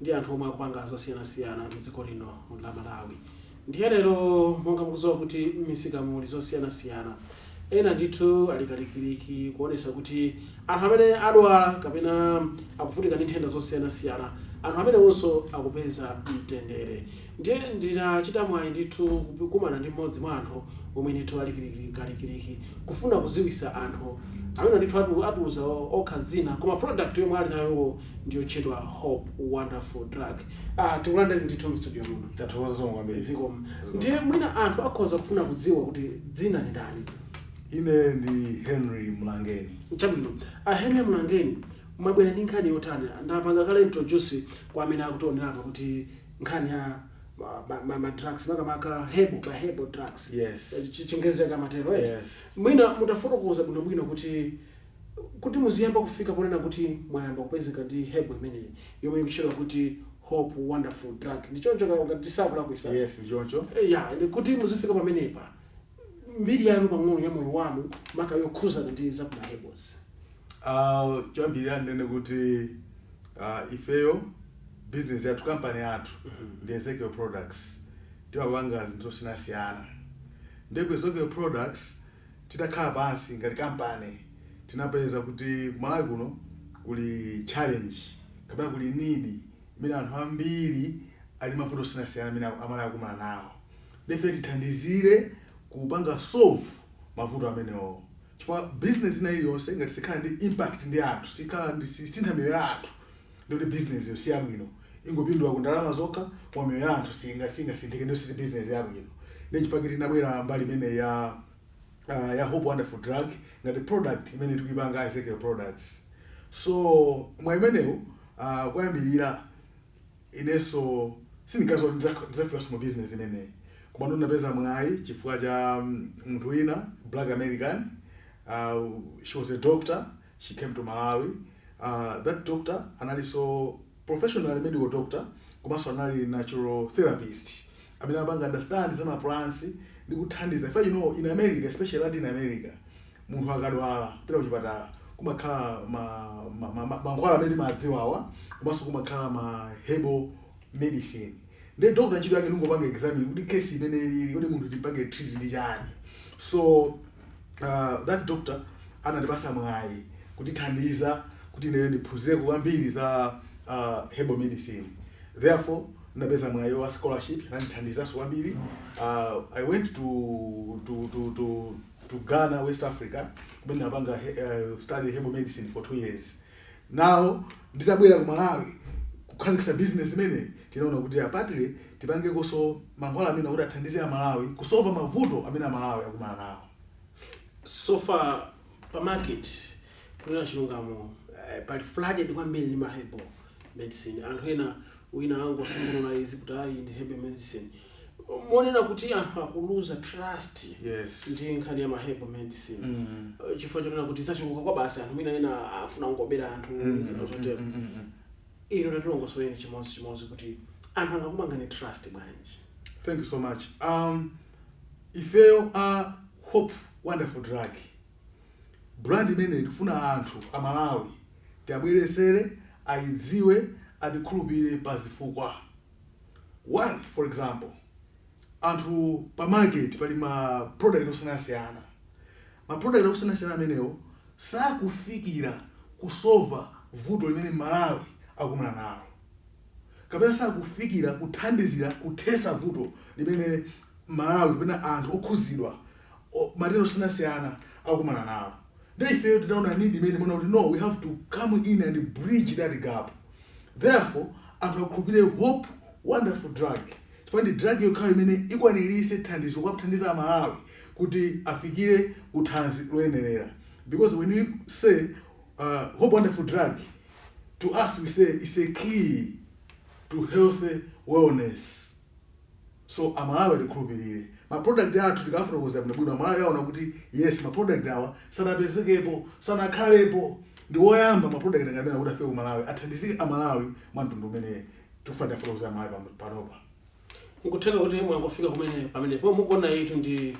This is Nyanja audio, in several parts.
ndi anthu omwe akupanga zosiyanasiyana mdziko lino la Malawi ndiye lero monga mukuziwa kuti mmisikamu muli zosiyanasiyana ena ndithu ali kalikiliki kuonesa kuti anthu amene akudwala kapena akuvutika ndi nthenda zosiyanasiyana anthu amenewonso akupeza mtendere Ndiye ndinachita mwayi ndithu kukumana ndi m'modzi mwa anthu omwe ndithu ali kalikiliki kufuna kuziwisa anthu. Amenewa ndithu atiuza okha zina koma product yomwe ali nayo iwowo ndi yotchedwa Hope Wonderful Drug. Aaa tikulandireni ndithu m'studio muno. Tathokoza zikomo kwambiri. Zikomo. Ndiye mwina anthu akhoza kufuna kudziwa kuti dzina ndi ndani? Ine ndi Henry Mlangeni. Chabwino. A Henry Mlangeni, mwabwera ndi nkhani yotani? Ndapanga kale introduce kwa amene akutionera apa kuti. nkhani ya ma, ma, ma, ma drugs makamaka herbal ma herbal drugs Yes. Eh, chi- chingerezi chake amatero eti Yes. mwina mutafotokoza bwinobwino kuti kuti muziyamba kufika ponena kuti mwayamba kupezeka ndi herbal imeneyi yomwe ikutchedwa kuti hope wonderful drug ndichoncho ngati sindikulakwisa yes ndichoncho Eh, ya and kuti muzifika pamenepa mbiri yanu pang'ono ya moyo wanu maka yokhuzana ndi za ku ma herbals. Uh, choyambirira ndinene kuti uh, ifeyo business yathu kampani yathu ndi Ezekiel Products timapanga zinthu zosiyanasiyana ndiye ku Ezekiel Products titakhala pansi ngati kampani tinapeza kuti kumalawi kuno kuli challenge kapena kuli need imene anthu ambiri ali mavuto osiyanasiyana amene amalawi akukumana nawo Ife tithandizire kupanga solve mavuto amenewowo chifukwa business ina iliyonse ngati sikhala ndi impact ndi anthu, sikhala ndi sisintha miyoyo ya anthu ndiye kuti business yo siyabwino. Ingopindula ku ndalama zokha koma miyoyo ya anthu singa singasinthike ndiye kuti si business yabwino. Ndiye chifukwa chake tinabwera mbali imeneyi ya aah ya Hope Wonderful Drug ngati product imene tikuipanga Ezekiel Products. So mwa imeneyo aah koyambirira Inenso sindinkaziwa kuti ndizafikanso mu business imeneyi komano ndinapeza mwayi chifukwa cha munthu wina black American she was a doctor she came to Malawi that doctor analinso professionally medical doctor komanso anali natural therapist amene amapanga understand za ma plants ndi kuthandiza chifukwa you know in America especially Latin America Munthu akadwala kupita kuchipatala kumakhala ma ma ma mankhwala amene timadziwawa komanso kumakhala ma herbal medicine ndiye doctor ntchito yake ndikungopanga examine kuti case imene ilipo kodi munthu timpange treat ndi chani so uh, that doctor anatipasa mwayi kutithandiza kuti ineyo ndiphunzireko kwambiri za uh, herbal medicine therefore ndinapeza mwayi wa scholarship anandithandizanso kwambiri uh, i went to, to, to, to to Ghana, West Africa, kumene ndapanga uh, study herbal medicine for two years. Now nditabwera ku Malawi kukhazikisa business imene tinaona kuti apatile tipangenso mankhwala amene kuti athandize a Malawi kusova mavuto amene a Malawi akumana nawo. So far pa market kunena chilungamo eh, pali flooded kwambiri ndi ma herbal medicine anthu ena wina angosungulula izi kuti ayi ndi herbal medicine Moonena kuti anthu akuluza trust yes ndi nkhani ya mahebo medicine mm. Eh, chifukwa chonena kuti zachuluka kwa basi anthu mwina ena afuna kungobera anthu mm. zina zotero mm, mm, mm. inu tatilongosolereni chimodzi chimodzi kuti anthu angakupangeni trust bwanji thank you so much um ifeyo a hope wonderful drug brand imene tikufuna anthu a malawi tiabweresere ayidziwe atikhulupirire pa zifukwa One for example anthu pa market pali ma product osiyanasiyana, ma product osiyanasiyana amenewo sakufikira kusova vuto limene Malawi akumana nalo kapena sakufikira kuthandizira kuthesa vuto limene Malawi kapena anthu okhuzidwa o, matenda osiyanasiyana akukumana nawo nde ifeyo titaona need imeneyi tinaona kuti no we have to come in and bridge that gap therefore anthu akhulupirire hope wonderful drug chifukwa ndi drug yokhayo imene ikwanirise thandizo kuwathandiza a Malawi kuti afikire ku thanzi loyenerera because when we say uh, hope wonderful drug to us we say it's a key to healthy wellness. So amalawi atikhulupilire. Ma product athu tikawafotokozera bwino bwino amalawi aona kuti yes ma product awa sanapezekepo, sanakhalepo. Ndi woyamba ma product ngati amenewa kuti afike ku Malawi athandizike amalawi mwa mtundu umene tikufuna tiafotokozere amalawi panopa. Nkutheka kuti mwangofika kumene pamenepo mukuona iyitu ndi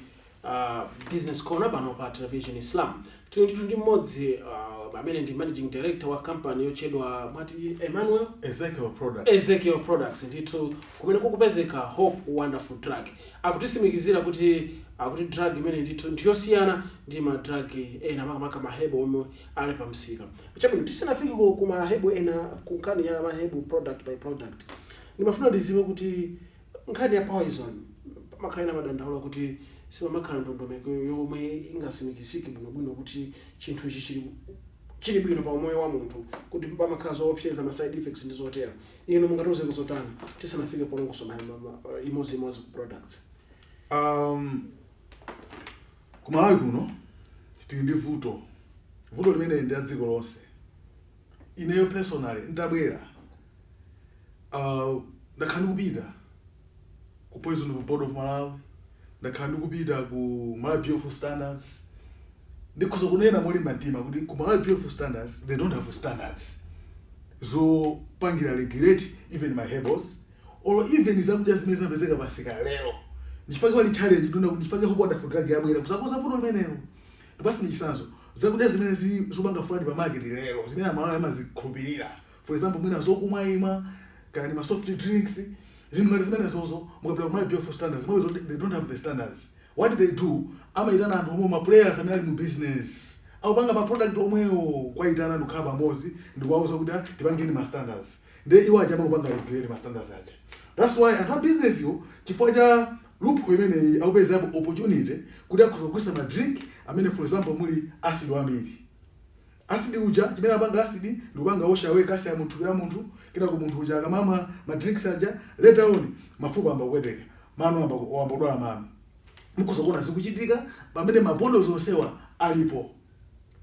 Business Corner pano pa Television Islam. Tili ndithu ndi mmodzi uh, amene ndi managing director wa company yotchedwa mwati Emmanuel Ezekiel Products. Ezekiel Products ndithu kumene kukupezeka Hope Wonderful Drug. Akutisimikizira kuti akuti drug imene ndithu ndiyosiyana ndi ma drug ena makamaka mahebo omwe ali pa msika. Chabwino tisanafike ku ku mahebo ena ku nkhani ya mahebo product by product. Ndimafuna ndiziwe kuti Nkhani ya poison pamakhala ena amadandaula kuti sipamakhala ndondomeko yomwe ingasimikizike bwino bwino kuti chinthu ichi chili bwino pa umoyo wa munthu kuti pamakhala zoopseza ma side effects ndi zotero. Inu mungatiuzeko zotani tisanafike polongosola imodzi imodzi ku products? Ahm, ku Malawi kuno tili ndi vuto, vuto limeneli ndi la dziko lonse. ineyo personally ndabwera uh, ndakhala ndikupita ku poison board of malawi ndakhala ndikupita ku malawi bureau of standards ndikhoza kunena molimba mtima kuti ku malawi bureau of standards they don't have standards zopangira regulate even ma herbals or even zakudya zimene zimapezeka pamsika lero ndichifake pali challenge ndona kuti ndifake hope wonderful drug yabwera kuzakonza vuto limenelo Ndikupaseni chisanzo. Zakudya zimene zi zopanga flood pa market lero, zimene a Malawi amazikhulupilira, for example mwina zokumwa imwa, kaya ndi ma soft drinks, zinthu ngati zimenezozo, mukapita ku Malawi Bureau of Standards mupeza kuti they don't have the standards. What they do, amayitana anthu omwewo ma players amene ali mu business, akupanga ma product omwewo, kuwayitana ndikukhala pamodzi ndikuwauza kuti a tipangeni ma standards. Ndiye iwo aja amangopanga regulate ma standards aja. That's why anthu a business wo chifukwa cha. loophole imeneyi akupezapo opportunity kuti akhoza kugulisa ma drink amene for example muli acid wambiri. Acid uja chimene amapanga acid ndikupanga wash away calcium mu thupi la munthu kenako munthu uja akamamwa ma drinks aja later on mafupa ayamba kupweteka, mano ayamba wayamba kudwala mano. Mukhoza kuona zikuchitika pamene ma boards onsewa alipo.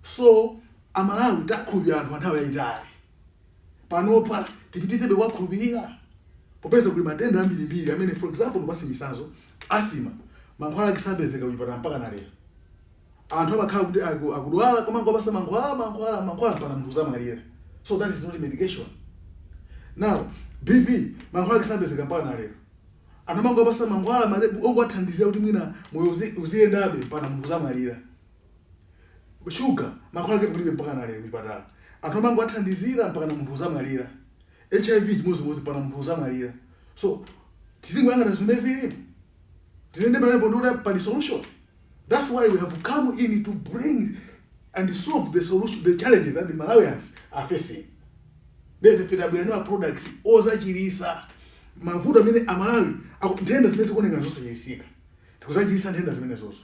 So a Malawi takhulupirira anthu kwa nthawi yayitali. panopa tipitirizebe kuwakhulupirira? Popeza kuli matenda ambirimbiri amene, for example, ndikupatse chitsanzo, asthma, mankhwala ake sapezeka kuchipatala mpakana lero. Anthu amakhala kuti aku- akudwala kumangopasa mankhwala mankhwala mankhwala mpaka munthu azamwalira. So that is not medication. Now, BP, mankhwala ake sapezeka mpakana lero. Anthu amangopasa mankhwala malebu ongowathandizira kuti mwina moyo uzi- uziyendabe mpaka munthu azamwalira. shuga mankhwala ake kulibe mpakana lero kuchipatala anthu amangowathandizira mpakana munthu azamwalira hiv chimodzimodzi mpakana munthu azamwalira so tizingoyang'ana zinthu zimene zilipo tinene pamenepo ndikuti pali solution that's why we have come in to bring and solve the solution the challenges that the malawians are facing nde ife tabwera nawo products ozachilisa mavuto amene amalawi aku- nthenda zimene zikuonekana zosachilisika tikuzachilisa nthenda zimenezozo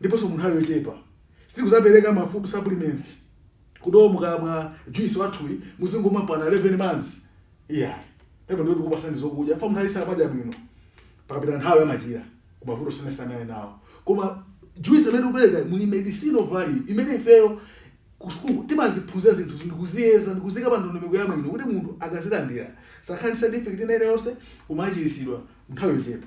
ndiponso mu nthawi yochepa sitikuzapereka ma food supplements kuti oo mukamwa juice wathuyi muzingomwa mpakana 11 months iyayi pepa ndiye tikupasani zokudya fa munthu aliyense amadya bwino pakapita nthawi amachira ku mavuto osiyanasiyana ali nawo koma juice amene tikupereka muli medicinal value imene ifeyo ku sukulu timaziphunzira zinthu ndikuziyeza ndikuziika pa ndondomeko yabwino kuti munthu akazilandira asakhale ndi side effect ina iliyonse koma achiritsidwe nthawi yochepa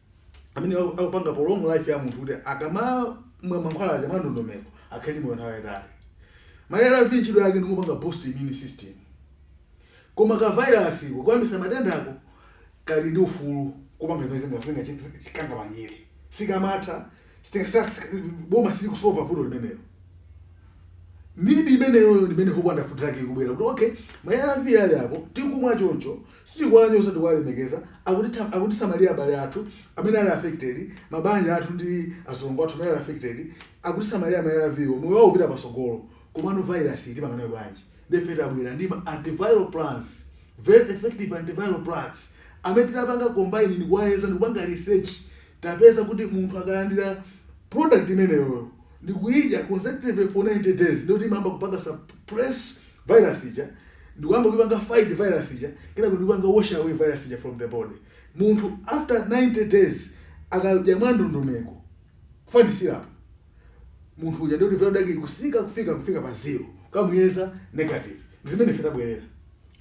amene aku- akupanga prolong life ya munthu kuti akamamwa mankhwala aja mwandondomeko akhale ndi moyo nthawi yayitali ma arv ntchito yake ndikupanga boost immune system koma ka virus koyambisa matendako kali ndi ufulu kupanga zimene zingachikanga manyere sikamatha Sitikasala boma silikusova vuto limenelo. Need imeneyoyo ndi imene Hope Wonderful track ikubwera kuti okay ma ARV ali apo tikumwa choncho sitikuwanyoza tikuwalemekeza akutitha- akutisamalira abale athu amene ali affected mabanja athu ndi azilongo athu amene ali affected akutisamalira ma ARV wo moyo wawo upita patsogolo komano virus iyi timanganayo bwanji nde ife tabwera ndi ma antiviral plants very effective antiviral plants amene tinapanga combine ndikuwayeza ndikupanga research Tapeza kuti munthu akalandira product imeneyoyo ndikuyidya consecutively for 90 days ndiye kuti imayamba kupanga suppress virus ija ndikuyamba kuipanga fight virus ija kenako ndikupanga wash away virus ija from the body. Munthu after 90 days akadya mwandondomeko, ufa ndi syrup. munthu uja ndiye kuti viral load yake ikusika kufika kufika pa zero kumuyeza negative ndi zimene ife tabwerera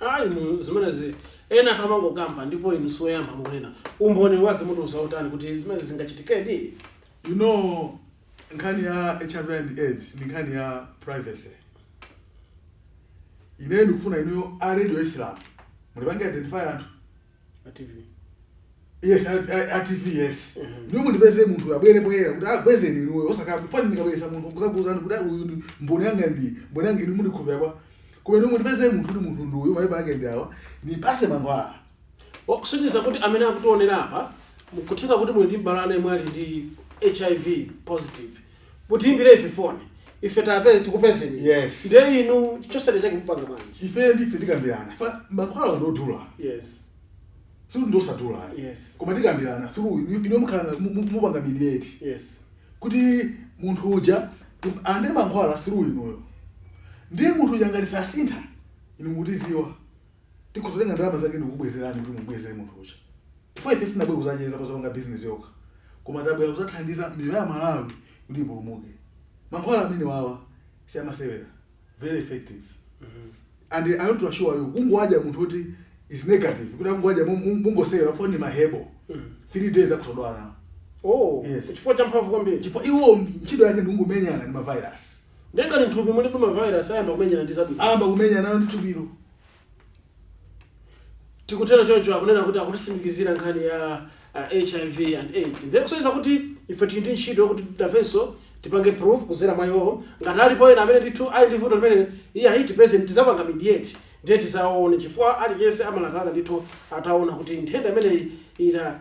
ayi mu zimenezi ena anthu amangokamba ndipo inu siwoyamba mukunena umboni wake mutiuza wotani kuti zimenezi zingachitikedi you know nkhani ya hiv and aids ndi nkhani ya privacy ineyo ndikufuna inuyo a radio islam mundipange identify anthu yes a tv yes mhm. inuyo mundipeze munthu abwere poyera kuti akuuzeni inuyo osakhala fa ine ndikabweresa munthu kuzakuuzani kuti uyu ndi mboni yanga ndi mboni yanga inu mundikhulupirira bwa koma inuyo mundipeze munthu kuti munthu ndi uyu mapepala ake ndi awa ndipase mankhwala kusonyeza kuti amene akutionera apa kutheka kuti muli ndi m'bale wanu yemwe ali ndi hiv positive mutiimbire ife foni ife tapeze tikupezeni Yes. ndiye inu chotsatira chake mupanga bwanji ifeyo ndiye ife tikambirana fa mankhwala ndodula yes sikuti ndiosadula ayi. Yes. koma tikambirana through inu- inu mukhala na- mu- mu- mupanga mediate yes kuti munthu uja tim- alandire mankhwala through inuyo ndiye munthu uja ngati sasintha inu mutiziwa tikhoza kutenga ndalama zake ndikukubwezerani kuti mubwezere munthu uja chifukwa ife sitinabwere kudzacheza kuzapanga bizinesi yokha koma tabwera kudzathandiza miyoyo ya amalawi kuti ipulumuke mankhwala amenewawa si amasewera very effective and i want to assure you kungowadya munthu woti is negative kuti akungowadya mongosewera chifukwa ndi mahebo three days akusodwana oh Yes. chifukwa cha mphamvu kwambiri chifukwa iwo ntchito yake ndingomenyana ndi mavirus Ndiye ngati nthupi mulibe ma virus ayamba kumenyana ndi zabwino. Ayamba kumenyanano ndi thupilo. Tikutero choncho akunena kuti akutitsimikizira nkhani ya hiv and aids ndiye kusonyeza kuti ife tili ndi ntchito yokuti nafenso tipange prove kuzera mwa iwowo ngati alipo ena amene ndithu ali ndi vuto limeneli iyayi tipezeni tizapanga mediate ndiye tizawaone chifukwa aliyense amalakalaka ndithu ataona kuti nthenda imeneyi ita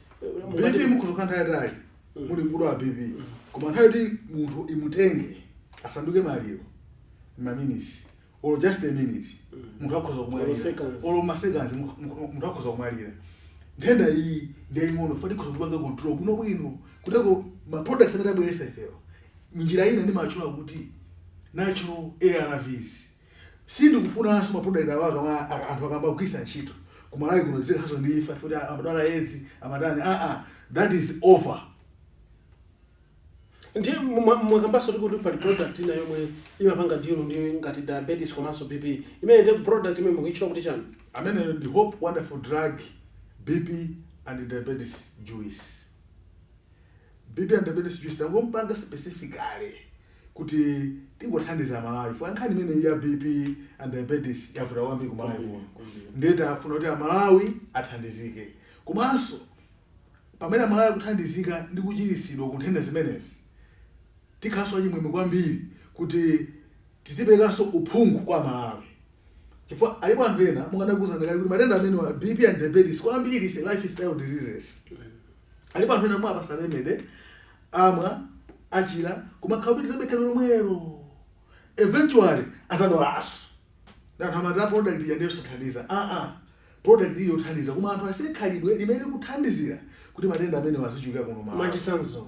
Mungati- bp mukhoza kukhala nthawi yayitali muli kudwala bp koma nthawi yoti munthu imutenge asanduke maliro maminutes or just a minute munthu akhoza kumwalira or maseconds munthu akhoza kumwalira nthenda iyi ndiyaying'ono fa tikhoza kupanga control bwino bwino kutenga ma products amene tabweretsa ifewa nchifukwa ine ndimatchula kuti natural arvs Sindikufunanso ma product awa akama anthu akamagwiritsa ntchito ku Malawi kuno tizikhalanso ndi imfa chifukwa choti amadwala edzi amatani aa that is over. Ndiye mwa- mwakambanso kuti pali product ina yomwe imapanga deal ndi ngati diabetes komanso bp imene ndi product imene mukuitchula kuti chani Ameneyo ndi Hope Wonderful Drug BP and Diabetes Juice. BP and Diabetes Juice tangompanga specifically kuti tingothandiza amalawi chifukwa nkhani imeneyi ya BP and diabetes yavuta kwambiri ku Malawi kuno ndiye tafuna kuti amalawi athandizike komanso pamene amalawi akuthandizika ndi kuchiritsidwa ku nthenda zimenezi tikhalanso achimwemwe kwambiri kuti tiziperekanso uphungu kwa amalawi chifukwa alipo anthu ena monga ndakuuzani kale kuti matenda amenewa BP and diabetes kwambiri ndi lifestyle diseases alipo anthu ena mwawapatsa remedy amwa achira koma akapitirizabe khalidwe lomwelo eventually adzadwalanso ndiye anthu amati a product ija ndi yosathandiza aa product iyi yothandiza koma anthu asiye khalidwe limene likuthandizira kuti matenda amenewa azichuluka kuno Malawi mwachitsanzo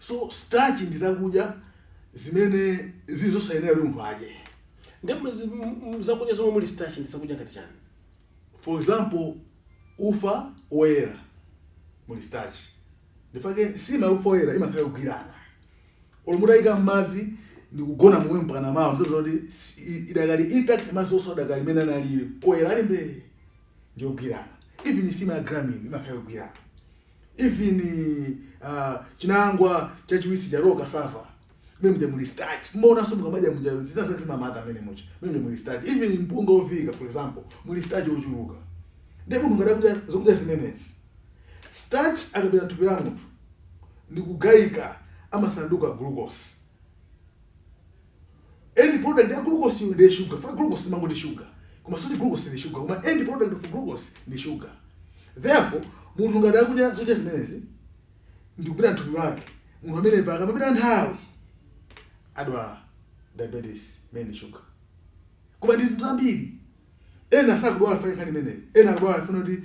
so starch ndi zakudya zimene zili zosayenera kuti munthu adye ndi mzi- m- m- zakudya zomwe muli starch ndi zakudya ngati chani for example ufa woyera muli starch ndifake nsima ya ufa woyera imakhala yogwirana olo mutayika mmadzi ndikugona momwe mpakana mawa muzaona kuti si- i- idakali intact madzi onse adakali mmene analili oyera ali mbee ndiyogwirana even nsima ya gramil imakhala yogwirana even uh, chinangwa chachiwisi cha raw cassava mmene muja muli starch mumaonanso mukamadya muja zina zake zimamata mmene muja mmene muja muli starch even mpunga ovika for example muli starch ochuluka ndiye munthu ngati akudya zokudya zimenezi starch akapita mthupi la munthu ndikugayika amasanduka glucose End product ya glucose ndi sugar. Fa glucose timangoti sugar. Koma sikuti glucose ndi sugar, koma end product of glucose ndi sugar. Therefore, munthu ngati akudya zakudya zimenezi ndikupita mthupi mwake, munthu amene pakamapita nthawi adwala diabetes imene ndi sugar. Koma ndi zinthu zambiri Ena sakudwala chifukwa cha nkhani imeneyi. Ena akudwala chifukwa choti,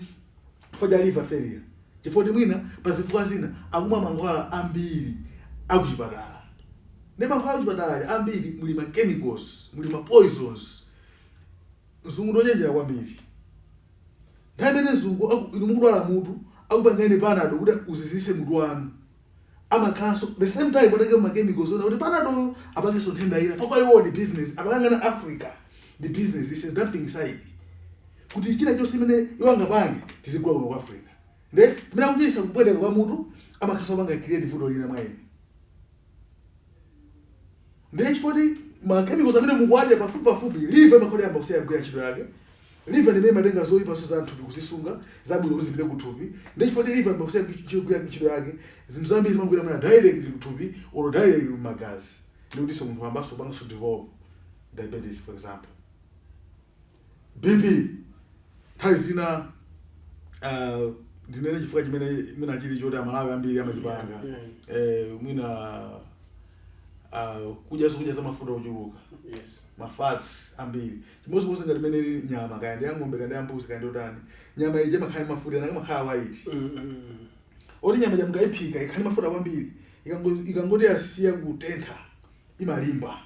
chifukwa cha liver failure, chifukwa choti mwina pa zifukwa zina akumwa mankhwala ambiri a kuchipatala. Ndiye mankhwala a kuchipatala aja ambiri muli ma chemicals, muli ma poisons. Mzungu ndi wochenjera kwambiri. Nthawi imene mzungu aku, inu mukudwala mutu, akupangani panado kuti uzizitse mutu wanu. amakhalanso the same time patenge ma chemicals ona kuti panado uyu apangenso nthenda ina pakwa iwo ndi business akakangana Africa ndi business this is dumping site kuti china chonse imene iwo angapange tizigula kuno ku Africa nde pamene akuchiza kupweteka kwa mutu amakhalanso apanga create vuto lina mwa eni nde chifoti ma chemicals amene mukuwadya pafupi pafupi liver amakhala yayamba kusiya kugwira ntchito yake Liver ndimene imatenga zoipa zonse za mthupi kuzisunga, zabwino kuti zipite ku thupi, nde chifukwa choti liver yayamba kusiya kugwira ntchito yake, zinthu zambiri zimangopita mwina directly ku thupi or directly ku magazi ndikutinso munthu wayambanso kupanganso develop diabetes for example. BP nthawi zina ah, ndinene chifukwa chimene mwina chili choti amalawi ambiri amachipanga Yeah, eh, mwina ah, kudya zokudya za mafuta ochuluka Yes. mafats ambiri chimodzimodzi ngati mmene ili nyama kaya ndi ya ng'ombe kaya ndi ya mbuzi kaya ndi yotani nyama ija imakhala ndi mafuta ena amakhala white Mm, mm, mm. oti nyama ija mukayiphika ikhala ndi mafuta kwambiri ikango- ikangoti yasiya kutentha imalimba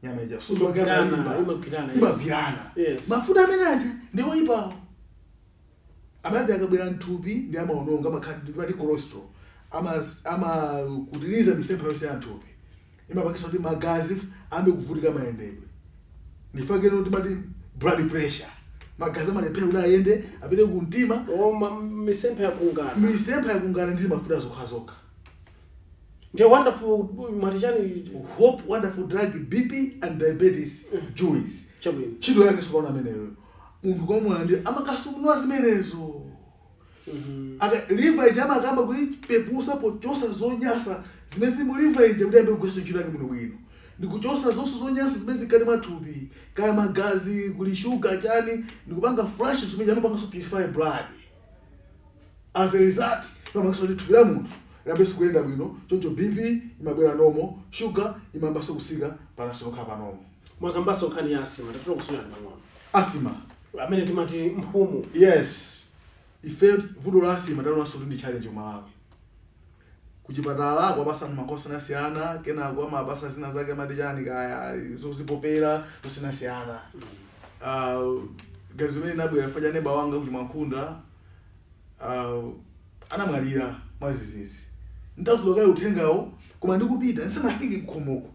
nyama ija suzo wake Imagwirana, amalimba imagwirana, yes. imagwirana Yes. mafuta amene aja ndi oyipawo Amati akabwera m'thupi ndiye amaononga, amakhala ndi timati cholesterol. Amakutiriza mitsempha yonse ya m'thupi. Imapangitsa kuti magazi ayambe kuvutika mayendedwe. Ndichifukwa chake timati blood pressure. Magazi amalephera kuti ayende apite ku mtima. Koma mitsempha yakungana. Mitsempha yakungana ndi zimafuta zokhazokha. Ndiye wonderful mwati chani? Hope wonderful drug BP and diabetes juice. Chabwino. Ntchito yake tsopano ameneyoyo. munthu kwa mulandira amakasungunula zimenezo Aka- liver ija amakayamba kuipepusa pochosa zonyasa zimene zili mu liver ija kuti ayambe kugwiranso ntchito yake bwinobwino ndikuchosa zonse zonyasa zimene zili mkati mwathupi kaya magazi kuli shuga chani ndikupanga flush zimene amapanganso purify blood as a result pamakhalanso kuti thupi la munthu liyambenso kuyenda bwino choncho bp imabwera normal shuga imayambanso kutsika pamenenso yokha pa normal Mwakambanso nkhani ya asthma, tatikutsulirani pang'ono. Asthma. Amene timati mphumu. Yes. Ife vuto la asthma talionanso kuti ndi challenge ku Malawi. Kuchipatala akuwapatsa anthu mankhwala osiyanasiyana, kenako amawapatsa zina zake amati chani kaya, zozipopera, zosiyanasiyana. Ganizo limene linabwera chifukwa cha neba wanga ku Chimwankhunda anamwalira mwadzidzidzi. Nditauzidwa kaye uthengawo, koma ndikupita, ndisanafike kukhomoku,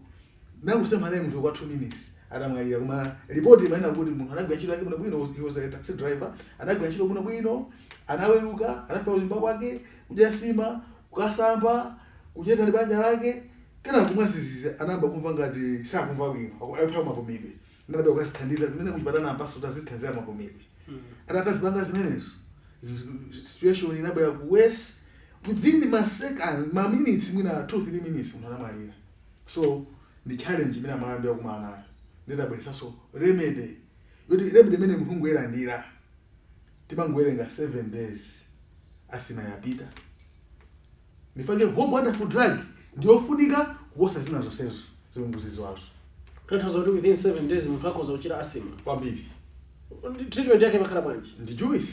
Nangosema naye munthu kwa 2 minutes adamwalira koma report imanena kuti munthu anagwira ntchito yake bwinobwino he was a taxi driver anagwira ntchito bwinobwino anaweruka anafika kunyumba kwake kudya nsima kukasamba kucheza ndi banja lake kenako mwadzidzidzi anayamba kumva ngati sakumva bwino akulephera mapumidwe ndiye anapita kukazithandiza kumene kuchipatala ampatse zothandiza mapumidwe hmm. atakazipanga zimenezo situation inabwera ku worse within ma second ma minutes mwina 2 3 minutes munthu anamwalira so ndi challenge imene amalawi ambiri akumana nayo nde tabweretsanso remedy yoti remedy imene munthu ungoyilandira timangowerenga 7 days asthma yapita ndi chifukwa chake hope wonderful drug ndiyofunika kuposa zina zonsezo zomwe mukuziziwazo Tanthauza kuti within 7 days munthu akhoza kuchira asthma. kwambiri Treatment yake imakhala bwanji? ndi juice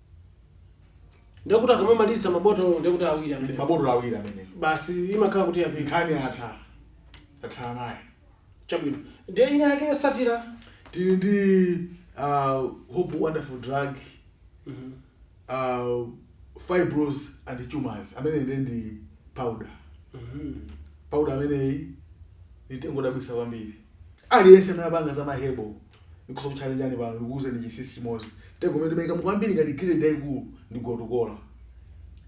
ndiye kuti akamamaliza mabotolo ndiye kuti awiri ndi amene mabotolo awiri amene basi imakhala kuti yapita nkhani yatha tathana naye chabwino ndiye ina yake yotsatira tili ndi uh, hope wonderful drug Mhm. uh, fibroids and tumors amene ndi ndi powder Mhm. powder ameneyi ndi mtengo odabwitsa kwambiri aliyense amene amapanga za ma herbal Ndikutsokuchallengani pano ndikuuzeni chinsinsi chimodzi, mtengo umene timaikamo kwambiri ngati ingredient yaikulu ndi gotu kola.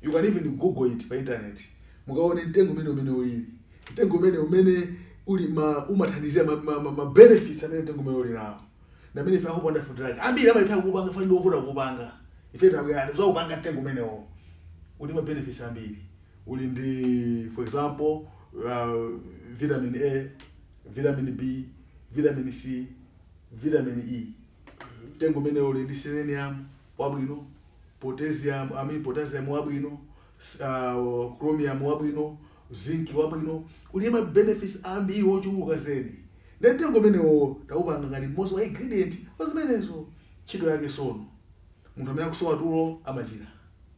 You can even google it pa internet mukaone mtengo umenewu mmene ulili. Mtengo umenewu mmene uli ma umathandizira ma ma ma ma benefits amene mtengo umenewu uli nawo ndi amene ife a Hope Wonderful Drug ambiri amalephera kuupanga chifukwa ndi wovuta kuupanga. Ife tabwera anthu kudzaupanga mtengo umenewo. Uli ndi ma benefits ambiri. Uli ndi for example, uh vitamin A. Vitamin B, vitamin C, vitamin E. Mtengo umenewo uli ndi selenium wabwino, potassium, I mean potassium wabwino, s- uh, chromium wabwino, zinc wabwino. Uli ndi ma benefits ambiri ochuluka zedi. Nde mtengo umenewo taupanga ngati mmodzi wa ingredient wa zimenezo. Ntchito yake sono. Munthu amene akusowa tulo amachira.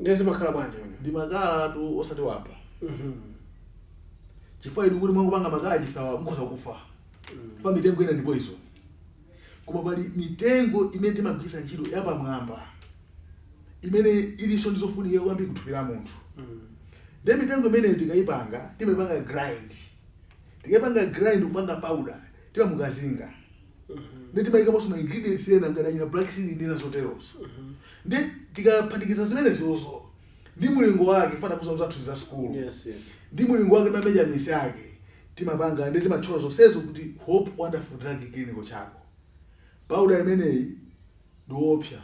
Ndiye zimakhala bwanji pamene? Ndi makala tu osati wamba. Mm -hmm. Chifukwa inu kuti mwangopanga makala chisawa mukhoza kufa. Mm. Paja mitengo ina ndi poison. Koma pali mitengo imene timagwiritsa ntchito ya pamwamba. Imene ilinso ndi zofunika kwambiri kuthupi la munthu. Mm. Ndiye mitengo imeneyo tikayipanga, timaipanga grind. Tikayipanga grind kupanga powder, timamukazinga. ndi timayikamonso ma ingredients ena ngati achina black seed ndi zina zoterozo ndi tikaphatikiza zimenezozo ndi mulingo wake chifukwa ndi kudzera za zathu za sukulu Yes, yes. ndi mulingo wake ma measurements ake timapanga ndi timatchula zonsezo kuti hope wonderful drug clinical charcoal powder imeneyi ndiopsa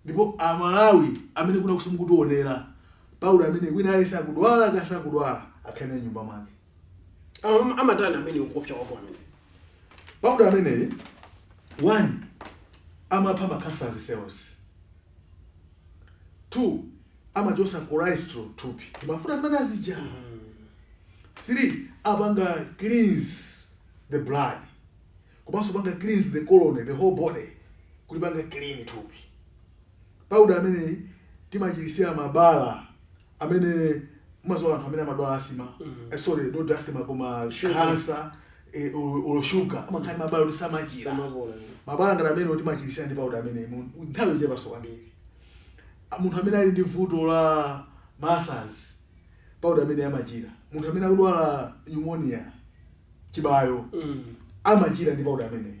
ndipo amalawi amene kunjakunsi mukutionera powder imeneyi wina aliyense akudwala kaya sakudwala akhale nayo m'nyumba mwake Am- amatani amene ukuopsa kwako amene Powder ameneyi one amapha ma cancerous cells. Two amachosa cholesterol m'thupi. Zimafuta zimene azija. Three amapanga cleanse the blood. Komanso kupanga cleanse the colon, the whole body. Kulipanga clean thupi. Powder ameneyi timachirisira mabala amene mumaziwa anthu amene amadwala asima mm -hmm. eh, sorry not asima koma kansa eh, olo shuga amakhala ndi mabala kuti samachira mabala ngati amenewa timachirisa ndi pauda ameneyi nthawi yochepanso kwambiri munthu amene ali ndi vuto la ma ulcers pauda ameneyi amachira munthu amene akudwala pneumonia chibayo mm. amachira ndi pauda ameneyi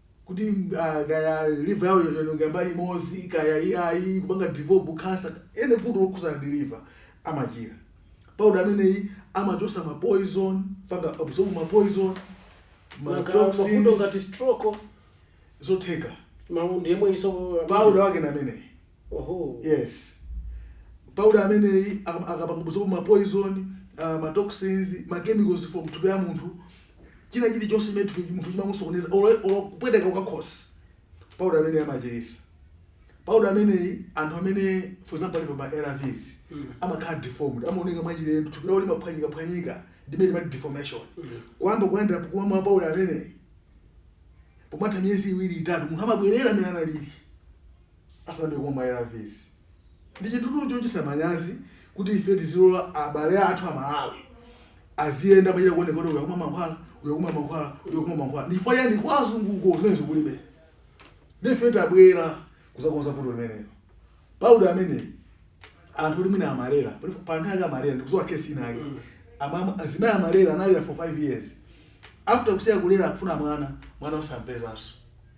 kuti ah, kaya liver yawo yaonongeka mbali imodzi kaya yayamba kupanga develop cancer any vuto lokhuzana ndi liver amachira powder ameneyi amachotsa ma poison kupanga absorb ma poison ma Maka mavuto toxins ngati stroke zotheka ndi yemweyinso powder wake na ameneyi Ohoo. Yes. Powder ameneyi akam- amapanga absorb ma poison, uh, ma toxins, ma chemicals from thupi la munthu. China chili chonse chimene m'thupi munthu chimamusokoneza olo olo kupweteka kwa khosi. Powder ameneyi amachirisa. Powder ameneyi anthu amene for example ali pa ma ARVs Mm. amakhala deformed, amaoneka mwachilendo, thupi lawo limaphwanyika phwanyika, ndimene timati deformation. Mm. Kuyamba kuyenda kumwa powder ameneyi. Pomatha miyezi iwiri itatu munthu amabwerera mmene analili. asanayambe kumwa ma ARVs. Ndi chinthutu chochititsa manyazi kuti ife tizilola abale athu Amalawi aziyenda akuchita kuoneka kuti uyu akumwa mankhwala, uyu akumwa mankhwala, uyu akumwa mankhwala. Ndi chifukwa chiyani kwa azunguko zimenezo kulibe? Ndiye ife tabwera kudzakonza vuto limenelo. Powder ameneyu anthu oti mwina amalera, pali pa nthawi yake amalera, ndikudziwa case ina yake. Amama azimayi amalera analera for 5 years. After kusiya kulera akufuna mwana, mwana osampezanso.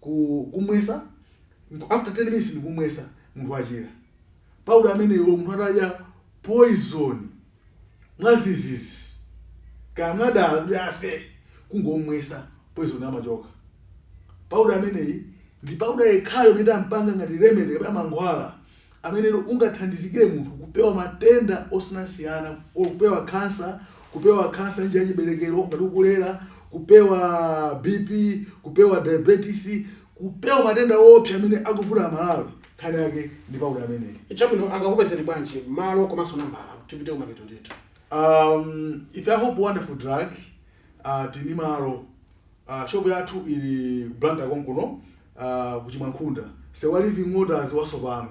ku kumwesa after 10 minutes ndikumwesa munthu wachira powder ameneyi olo munthu atadya poison mwazizizi kaya mwadala kuti afe kungomwesa poison amachoka powder ameneyi ndi powder yekhayo amene tampanga ngati remedy kapena mankhwala amenetu ungathandizike munthu kupewa matenda osiyanasiyana kupewa khansa kupewa khansa njira yachiberekero ngati ukulera kupewa bp kupewa diabetes kupewa matenda oopsa amene akuvuta amalawi nkhani yake ndi pauda ameneyi chabwino angakupezeni bwanji malo komanso nambala tipite kumapeto ndithu um, ife a hope wonderful drug uh, tili ndi malo a shop yathu ili ku blantyre konkuno a ku chimwankhunda nsewu wa living waters wasopano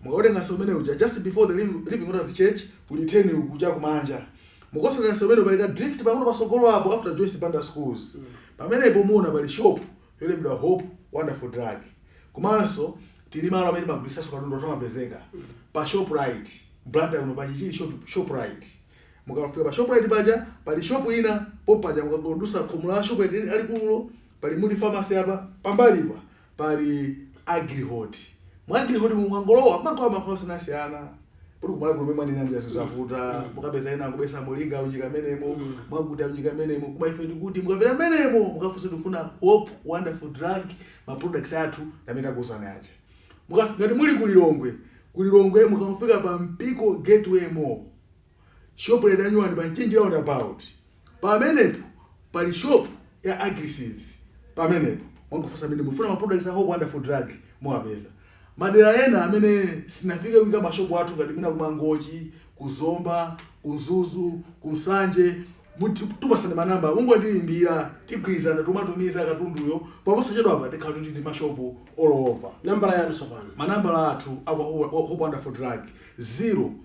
mukatenga nsewu umene uja just before the Liv- living waters church kuli turn uku cha kumanja mukatsata nsewu umene uli ndi ka drift pang'ono patsogolo apo after joyce banda schools pamenepo muona pali shop yolembedwa hope wonderful drug komanso tili ndi malo amene timagulitsanso katundu timapezeka pa shoprite blantyre kuno pa chichiri shop, shoprite Mukafika pa Shoprite paja pali shop ina pompaja mukangodutsa khomo la Shoprite lalikululo pali Mudi Pharmacy apa pambalipa pali Agrihold. Mu Agrihold mu mukangolowa mumagulitsa mankhwala osiyanasiyana poti kumalawi kuno ena mwina mjazo zavuta mukapeza ena kubetsa molinga unjika mmenemo mwakuti unjika mmenemo koma ife ndikuti mukapita mmenemo mukafunsa ndikufuna hope wonderful drug ma products athu amene ndakuuzani aja mukafika ngati muli kulilongwe kulilongwe mukafika pa mpiko gateway mall Shopu yanyuwani pa Mchinji roundabout pamenepo pali shopu ya Agriseeds pamenepo mungofunsa mmenemo mufuna ma products a Hope Wonderful Drug muwapeza. Madera ena amene sitinafike kuika ma shop athu ngati mwina ku Mangochi, ku Zomba, ku Mzuzu, ku Nsanje titi tikupatsani ma number mungotiyimbira tigwirizana timatumiza katunduyo paposachedwapa tikhala tili ndi ma shop all over. Nambala yanu tsopano. Ma nambala athu a kwa Hope Wonderful Drug 0.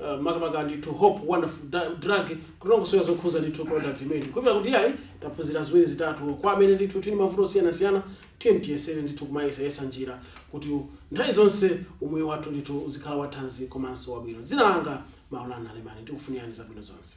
Uh, makamaka ndithu hope wonderful Da- drug kutilongosolera zokhuza ndithu product imeneyi kukhulupirira kuti yayi taphunzira ziwiri zitatu kwa amene ndithu tili mavuto osiyanasiyana tiye tiyesere ndithu kumayesa yesa njira kuti nthawi zonse umoyo wathu ndithu uzikhala wathanzi komanso wabwino dzina langa maulana alemani ndikufunirani zabwino zonse